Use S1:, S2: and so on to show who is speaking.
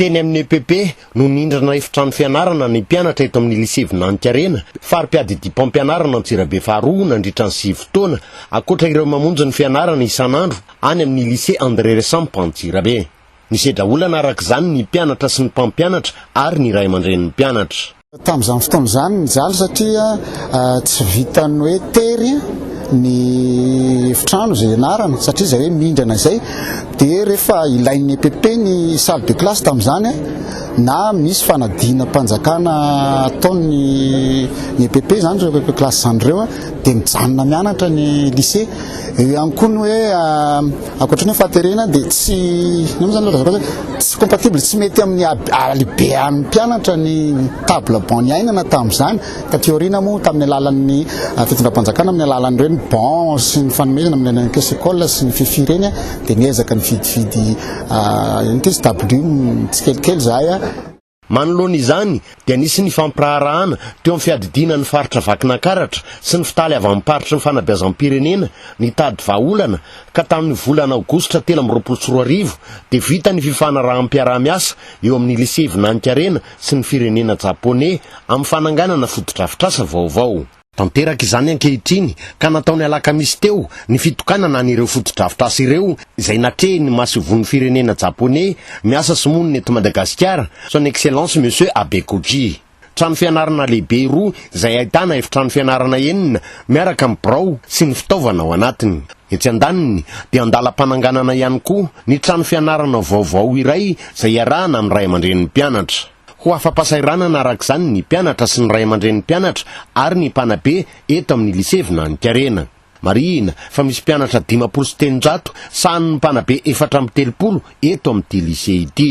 S1: Teny amin'ny EPP no nindrana efitrano fianarana ny mpianatra eto amin'ny Lycée Vinanikarena, fari-piadidiam-pampianarana Antsirabe faharoa nandritra ny sivy taona, ankoatra ireo mamonjy ny fianarana isan'andro any amin'ny Lycée André Resamp Antsirabe. Nisedra olana araka izany ny mpianatra sy ny mpampianatra ary ny ray aman-drenin'ny mpianatra. Tamin'izany fotoana
S2: izany nijaly satria tsy vitan'ny hoe tery ny efitrano izay ianarana satria izay hoe mindrana izay dia rehefa ilain'ny EPP ny salle de classe tamin'izany na misy fanadinam-panjakana ataon'ny ny EPP izany ireo EPP classe izany ireo dia mijanona mianatra ny lycée eo ihany koa ny hoe Ankoatry ny hoe fahaterena dia tsy inona zany ilay resaka hoe tsy compatible, tsy mety amin'ny halehibehan'ny mpianatra ny table banc niainana tamin'izany. Taty aoriana moa tamin'ny alalan'ny fitondram-panjakana amin'ny alalan'ireny banc sy ny fanomezana amin'ny alalan'ny caisse école sy ny fifi ireny dia niezaka nividividy inona ity izy, table tsikelikely izahay. Manoloana
S1: izany dia nisy ny fampiraharahana teo amin'ny fiadidiana ny faritra Vakinankaratra sy ny fitaly avy amin'ny paritry ny fanabeazam-pirenena nitady vahaolana ka tamin'ny volana aogositra telo amby roapolo sy roa arivo dia vita ny fifanaraham-piaraha-miasa eo amin'ny Lisea Vinaninkarena sy ny firenena Japoney amin'ny fananganana fotodrafitrasa vaovao. Tanteraka izany ankehitriny ka natao ny alakamisy teo ny fitokanana an'ireo fotodrafitrasa ireo izay natrehin'ny masoivohon'ny firenena Japoney miasa sy monina eto Madagasikara, Son Excellence Monsieur Abe Kuki. Trano fianarana lehibe roa izay ahitana efitrano fianarana enina miaraka amin'ny birao sy ny fitaovana ao anatiny. Etsy andaniny dia an-dalam-pananganana ihany koa ny trano fianarana vaovao iray izay iarahana amin'ny ray aman-drenin'ny mpianatra. Ho afa-pasahiranana araka izany ny mpianatra sy ny ray aman-drenin'ny mpianatra ary ny mpanabe eto amin'ny Lycée Vinanikarena. Marihina fa misy mpianatra dimampolo sy telonjato sahanin'ny mpanabe efatra amby telopolo eto amin'ity Lycée ity.